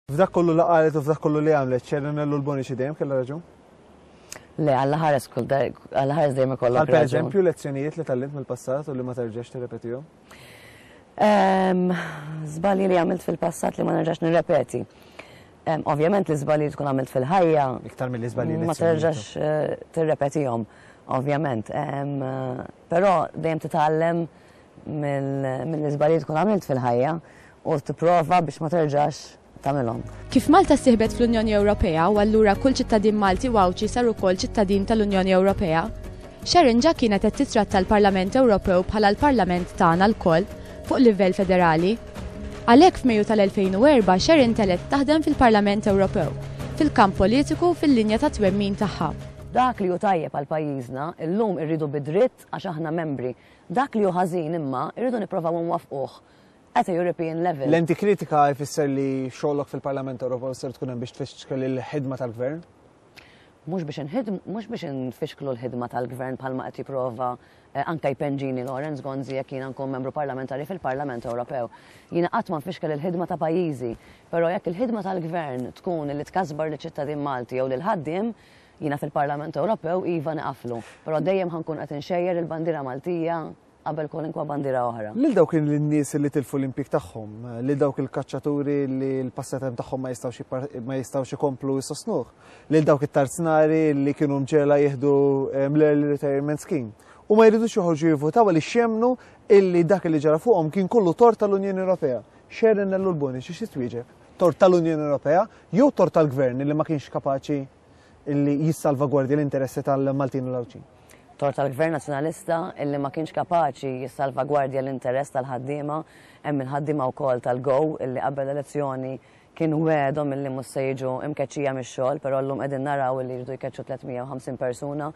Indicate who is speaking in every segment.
Speaker 1: F'dak kollu li qalet u f'dak kollu li għamlet, Cerenello l-Bonici dejjem kellha raġun? Le,
Speaker 2: għalla ħares kull għalla ħares dejjem ikollok. Għal pereżempju lezzjonijiet li
Speaker 1: tallimt mill-passat u li ma terġax tirrepetihom?
Speaker 2: Żbalji ehm, li għamilt fil-passat li ma nerġax nirrepeti. Ehm, ovvjament li żbalji tkun għamilt fil-ħajja. Iktar mill żbalji
Speaker 1: Ma terġax eh,
Speaker 2: tirrepetihom, ovvjament. Ehm, però dejjem titgħallem mill-iżbalji tkun għamilt fil-ħajja u tipprova biex ma terġax tagħmilhom. Kif Malta ssieħbet
Speaker 3: fl-Unjoni Ewropea u allura kull ċittadin Malti u Għawdxi sar ukoll ċittadin tal-Unjoni Ewropea, Sharon ġa kienet qed tittratta l-Parlament Ewropew bħala l-Parlament tagħna lkoll fuq livell federali. Għalhekk f'Mejju tal-2004 Sharon telgħet taħdem fil-Parlament Ewropew, fil-kamp politiku u fil-linja ta' twemmin tagħha. Dak li hu tajjeb
Speaker 2: għal pajjiżna, illum irridu bi dritt għax aħna membri Dak li hu ħażin, imma, irridu nipprovaw inwaffquh at a European level. Lenti kritika jfisser
Speaker 1: li xogħlok fil-Parlament Ewropew ser tkun hemm biex tfixkel il-ħidma tal-Gvern? Mhux
Speaker 2: biex inħidm, mhux biex infixklu l-ħidma tal-Gvern bħalma qed jipprova eh, anke jpenġini Lawrence Gonzi jekk jiena nkun membru parlamentari fil-Parlament Ewropew. Jiena qatt ma nfixkel il-ħidma ta' pajjiżi, però jekk il-ħidma tal-Gvern tkun li tkasbar liċ-ċittadin Malti jew lil ħaddiem, Jiena fil-Parlament Ewropew iva niqaflu, però dejjem ħa nkun qed inxejjer il-bandiera Maltija qabel kwalunkwa bandiera oħra. Lil dawk in-nies li
Speaker 1: tilfu l-impjieg tagħhom, lil dawk il-kaċċaturi li l-passatemp tagħhom ma jistgħux ikomplu jsostnuh, lil dawk it-tarznari li kienu mġegħla jieħdu ehm, l-early retirement scheme. U ma jridux joħorġu jivvutaw għaliex jemmnu illi dak li ġara fuqhom kien kollu tort tal-Unjoni Ewropea. Xerin l-Urboni xi xi twieġeb? Tort tal-Unjoni Ewropea jew tort tal-Gvern li ma kienx kapaċi illi jissalvagwardja l-interessi tal-Maltin u l-Għawdxin. Tort tal-Gvern
Speaker 2: Nazzjonalista illi ma kienx kapaċi jissalvagwardja l-interess tal-ħaddiema, hemm il-ħaddiema wkoll tal-GO illi qabel l-elezzjoni kien wegħedhom illi mhux se jiġu imkeċċija mix-xogħol, però llum qegħdin naraw illi jridu jkeċċu 350 persuna,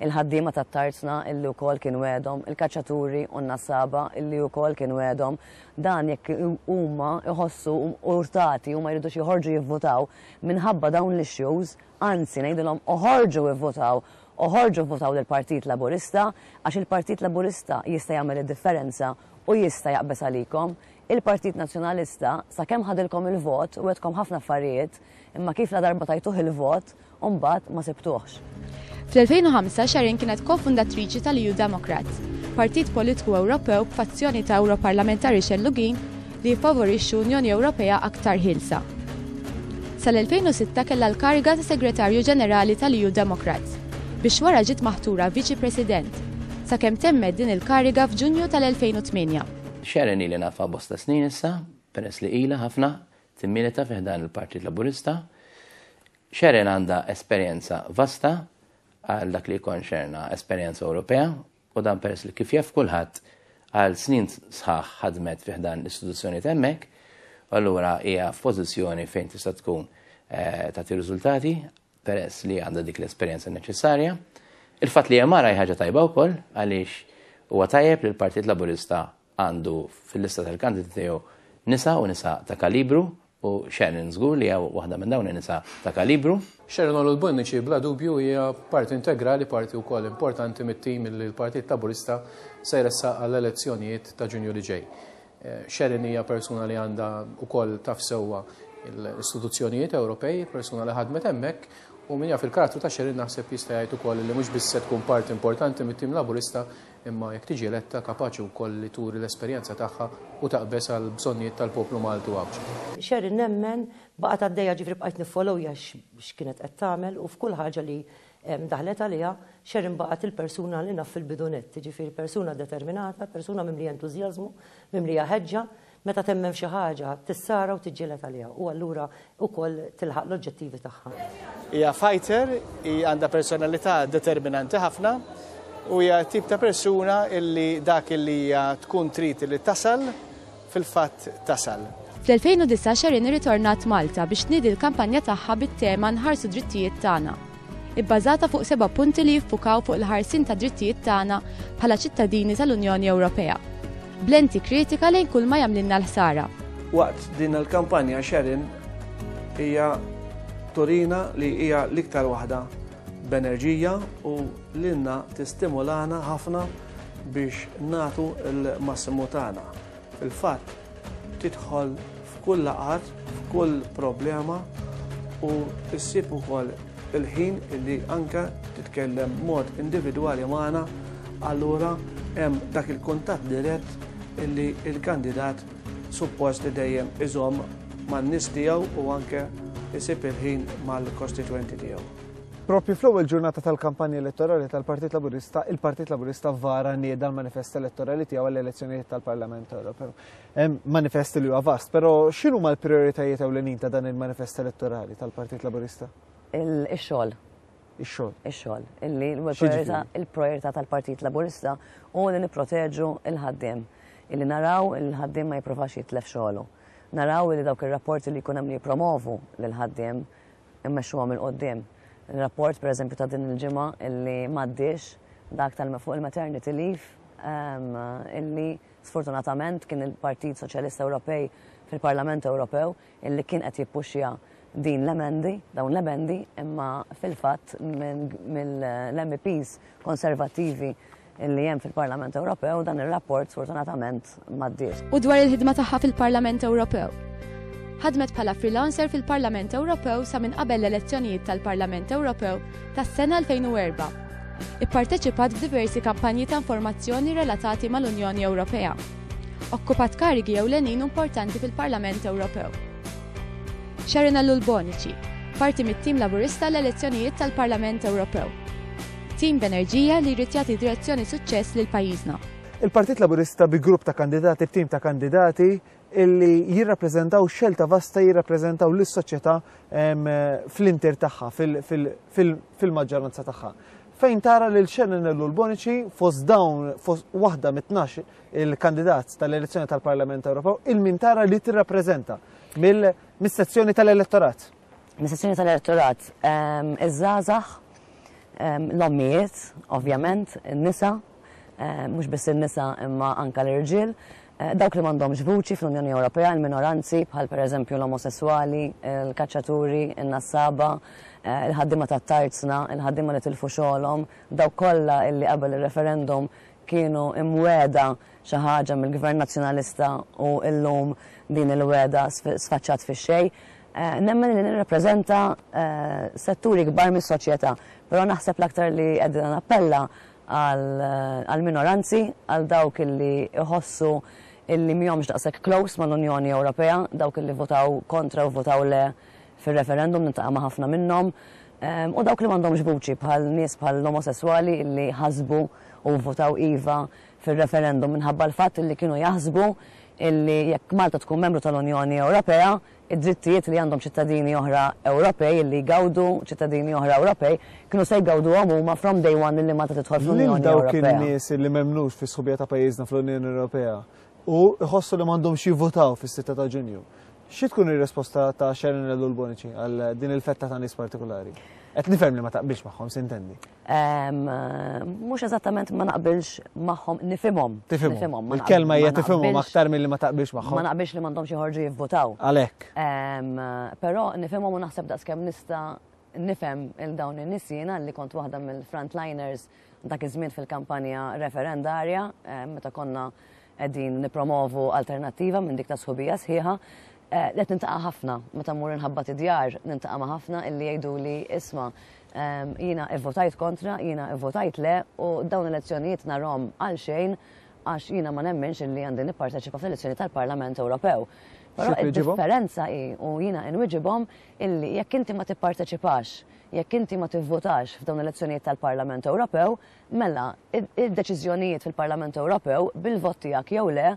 Speaker 2: il-ħaddiema tat-Tarzna illi wkoll kien wegħedhom, il-kaċċaturi u n-nassaba illi wkoll kien wegħedhom. Dan jekk huma jħossu urtati huma jridux joħorġu jivvutaw minħabba dawn l-issues, anzi ngħidilhom oħorġu ivvotaw, oħorġu vvotaw lill-Partit Laburista għax il-Partit Laburista jista' jagħmel id-differenza u jista' jaqbeż għalikom. Il-Partit Nazzjonalista sakemm ħadilkom il-vot wegħedkom ħafna affarijiet imma kif ladarba tajtuh il-vot mbagħad ma sibtuhx. Fl-2005
Speaker 3: Sharon kienet ko-fundatriċi tal-EU Democrats, partit politiku Ewropew b'fazzjoni ta' Ewroparlamentari xellugin li jiffavorixxu Unjoni Ewropea aktar ħielsa. Sal-2006 kellha l-kariga ta' Segretarju Ġenerali tal-EU Democrats, biex wara ġiet maħtura Viċi President, sakemm temmet din il-kariga f'Ġunju tal-2008. Sharon ili
Speaker 4: nafha bosta snin issa, peress li ilha ħafna timmilita fi ħdan il-Partit Laburista. Sharon għandha esperjenza vasta għal dak li jikkonċerna esperjenza Ewropea u dan peress li kif jaf kulħadd għal snin sħaħ ħadmet fi ħdan l-istituzzjonijiet hemmhekk, u allura hija f'pożizzjoni fejn tista' tkun eh, tagħti riżultati peress li għandha dik l-esperjenza neċessarja. Il-fatt li hija mara hi ħaġa tajba wkoll għaliex huwa tajjeb li l-Partit Laburista għandu fil-lista tal-kandidati tiegħu nisa u nisa ta' kalibru u Sharon żgur li hija waħda minn dawn in-nisa ta' kalibru. Sharon Olul Bonnici
Speaker 5: bla dubju hija parti integrali, parti wkoll importanti mit-tim li l-Partit Laburista se jressaq għall-elezzjonijiet ta' Ġunju li ġej. Sharon hija persuna li għandha wkoll taf sewwa l-istituzzjonijiet Ewropej, persuna li ħadmet hemmhekk u min jaf il-karattru ta' Sharon naħseb jista' jgħid ukoll li mhux biss se tkun parti importanti mit-tim Laburista imma jekk tiġi eletta, kapaċi wkoll li turi l-esperjenza tagħha u taqbeż għall-bżonnijiet tal-poplu Malti u Għawdxi. Sherry, nemmen,
Speaker 6: baqgħet għaddejja, jiġifieri bqajt niffollowja x'kienet qed tagħmel u f'kull ħaġa li daħlet għaliha, Sherry nbaqgħet il-persuna li naf fil-bidunett, jiġifieri persuna determinata, persuna mimlija entużjażmu, mimlija ħeġġa, Meta temmen f'xi ħaġa, tissara u tiġġieled għaliha u allura ukoll tilħaq l-oġġettivi tagħha. Hija fighter,
Speaker 7: hi għandha personalità determinanti ħafna u hija tip ta' persuna illi dak illi hija tkun trid li tasal fil-fatt tasal. Fl-2009
Speaker 3: Sherin irritornat Malta biex tniedi l-kampanja tagħha bit-tema Nħarsu d-drittijiet tagħna. ibbażata fuq seba' punti li jiffukaw fuq il-ħarsien tad-drittijiet tagħna bħala ċittadini tal-Unjoni Ewropea, b'lenti kritika lejn kulma jagħmlilna l-ħsara. Waqt din
Speaker 8: il-kampanja Sharon hija turina li hija l-iktar waħda b'enerġija u lilna tistimulana ħafna biex nagħtu l-massimu tagħna. Fil-fatt, tidħol f'kull laqgħat, f'kull problema u ssib ukoll il-ħin illi anke titkellem mod individwali magħna, allura hemm dak il-kuntatt dirett illi l-kandidat suppost li dejjem iżomm man-nies tiegħu u anke isib il-ħin mal-kostitwenti tiegħu. Propju fl-ewwel
Speaker 1: ġurnata tal-kampanja elettorali tal-Partit Laburista, il-Partit Laburista vara nieda l-manifest elettorali tiegħu għall-elezzjonijiet tal-Parlament Ewropew. Manifest li huwa vast, però x'inhu ma l-prijoritajiet ewlenin ta' dan il-manifest elettorali tal-Partit Laburista? Ix-xogħol.
Speaker 2: Ix-xogħol.
Speaker 1: Ix-xogħol.
Speaker 2: Illi l-priorità tal-Partit Laburista u li nipproteġu l-ħaddiem. Illi naraw il-ħaddiem ma jippruvax jitlef xogħlu. Naraw li dawk ir-rapporti li jkun hemm li jippromovu lill-ħaddiem immexxuhom 'il quddiem. Ir-rapport pereżempju ta' din il-ġimgħa illi m'għaddiex, dak tal fuq il-maternity leave, illi sfortunatament kien il-Partit Soċjalista Ewropej fil-Parlament Ewropew illi kien qed jippuxxja din l-emendi, dawn l-emendi, imma fil-fatt mill-MEPs konservattivi illi hemm fil-Parlament Ewropew dan ir-rapport sfortunatament m'għaddiex. U dwar il-ħidma tagħha
Speaker 3: fil-Parlament Ewropew. Ħadmet bħala freelancer fil-Parlament Ewropew sa minn qabel l-elezzjonijiet tal-Parlament Ewropew tas-sena 2004. Ipparteċipat f'diversi kampanji ta' informazzjoni relatati mal-Unjoni Ewropea. Okkupat karigi jew lenin importanti fil-Parlament Ewropew. Sharon Allul Bonici, parti mit-tim Laburista l-elezzjonijiet tal-Parlament Ewropew. Tim b'enerġija li jrid jagħti direzzjoni suċċess lil pajjiżna. Il-Partit Laburista
Speaker 1: bi grupp ta' kandidati b'tim ta' kandidati illi jirrappreżentaw xelta vasta jirrappreżentaw lis-soċjetà fl-inter tagħha, fil-maġġoranza tagħha fejn tara lil Shannon Ellu l-Bonici fost dawn fost waħda mit-12 il-kandidat tal-elezzjoni tal-Parlament Ewropew il-min tara li tirrappreżenta mill-sezzjoni tal-elettorat. mis-sezzjoni
Speaker 2: tal-elettorat, iż-żgħażagħ, l-ommijiet, ovvjament, in-nisa, mhux biss in-nisa imma anke l-irġiel, eh, dawk li m'għandhomx vuċi fl-Unjoni Ewropea, il-minoranzi bħal pereżempju l-omosessuali, il-kaċċaturi, in-nassaba, eh, il-ħaddiema tat-tarzna, il-ħaddiema li tilfu xogħolhom, dawk kollha illi qabel ir-referendum kienu imweda xi ħaġa mill-Gvern Nazzjonalista u llum din il-weda sfaċċat fix-xejn. Nemmen li nirrappreżenta setturi kbar mis-soċjetà, però naħseb l-aktar li qegħdina nappella għall-minoranzi, għal dawk li jħossu li mhomx daqshekk close mal-Unjoni Ewropea, dawk li vvotaw kontra u vvotaw le fir-referendum, niltaqa' ma' ħafna minnhom, u dawk li m'għandhomx vuċi bħal nies bħall-omosesswali li ħasbu u vvotaw iva fir-referendum minħabba l-fatt li kienu jaħsbu li jekk Malta tkun membru tal-Unjoni Ewropea, Id-drittijiet li għandhom ċittadini oħra Ewropej, illi jgawdu ċittadini oħra Ewropej, kienu se jgawduhom huma from day one lil meta tidħol fl-Unjoni Ewropea. Lil dawk in-nies illi m'emmnux
Speaker 1: fis-sħubija ta' pajjiżna fl-Unjoni Ewropea u jħossu li m'għandhomx jivvutaw fis-sitta ta' Ġunju, xi tkun ir-risposta ta' Sharon Ellul Bonici għal din il-fetta ta' nies partikulari? Qed nifhem li ma taqbilx magħhom, s'intendi.
Speaker 2: Mhux eżattament ma naqbilx magħhom nifhimhom. Nifhimhom. Il-kelma
Speaker 1: hija tifhimhom aktar milli ma taqbilx magħhom. Ma naqbilx li m'għandhomx joħorġu
Speaker 2: jivvutaw. Għalhekk.
Speaker 1: Però
Speaker 2: nifhimhom u naħseb daqskemm nista' nifhem il dawn in-nies jiena li kont waħda mill-frontliners dak iż-żmien fil-kampanja referendarja meta konna qegħdin nippromovu alternattiva minn dik ta' sħubija sħiħa, eh, qed nintaqa' ħafna meta mmur inħabbat id-djar, nintaqa' ma' ħafna illi jgħiduli isma' ehm, jiena evvotajt kontra, jiena evvotajt le u dawn elezzjonijiet narhom għal xejn għax jiena ma nemminx illi għandi nipparteċipa fl-elezzjoni tal-Parlament Ewropew. Però id-differenza hi u jiena inwiġibhom illi jekk inti ma tipparteċipax, jekk inti ma tivvotax f'dawn l-elezzjonijiet tal-Parlament Ewropew, Mela, id-deċiżjonijiet fil-Parlament Ewropew, bil-vot tiegħek jew le,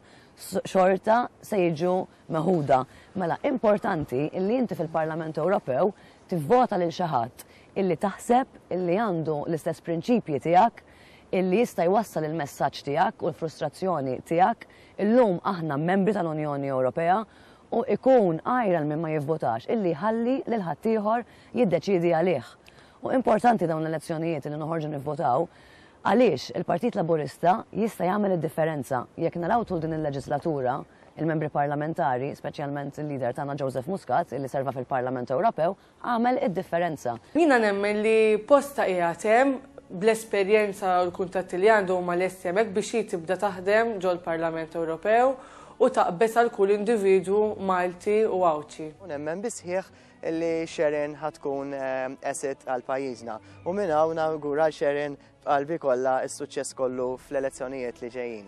Speaker 2: xorta se jiġu meħuda. Mela, importanti illi inti fil-Parlament Ewropew tivvota lil xi ħadd illi taħseb illi għandu l-istess prinċipji tiegħek, illi jista' jwassal il-messaġġ tiegħek u l-frustrazzjoni tiegħek. Illum aħna membri tal-Unjoni Ewropea u ikun għira għal min ma jivvotax illi jħalli lil ħaddieħor jiddeċiedi għalih. U importanti dawn l-elezzjonijiet li noħorġu nivvotaw għaliex il-Partit Laburista jista' jagħmel id-differenza. Jekk naraw tul din il-leġislatura, il-Membri Parlamentari, speċjalment il-Leader tagħna Joseph Muscat, illi serva fil-Parlament Ewropew, għamel id-differenza. Jiena nemmen li
Speaker 9: postha qiegħed hemm, bl-esperjenza u l-kuntatti li għandu huma lesti hemmhekk biex hi tibda taħdem ġol-Parlament Ewropew u taqbeż għal kull individwu Malti u Għawdxi. U nemmen bis-sħiħ
Speaker 10: li Sharon ħad tkun asset għal pajjiżna. U minn hawn nawgura Sharon b'qalbi kollha s-suċċess kollu fl-elezzjonijiet li ġejjin.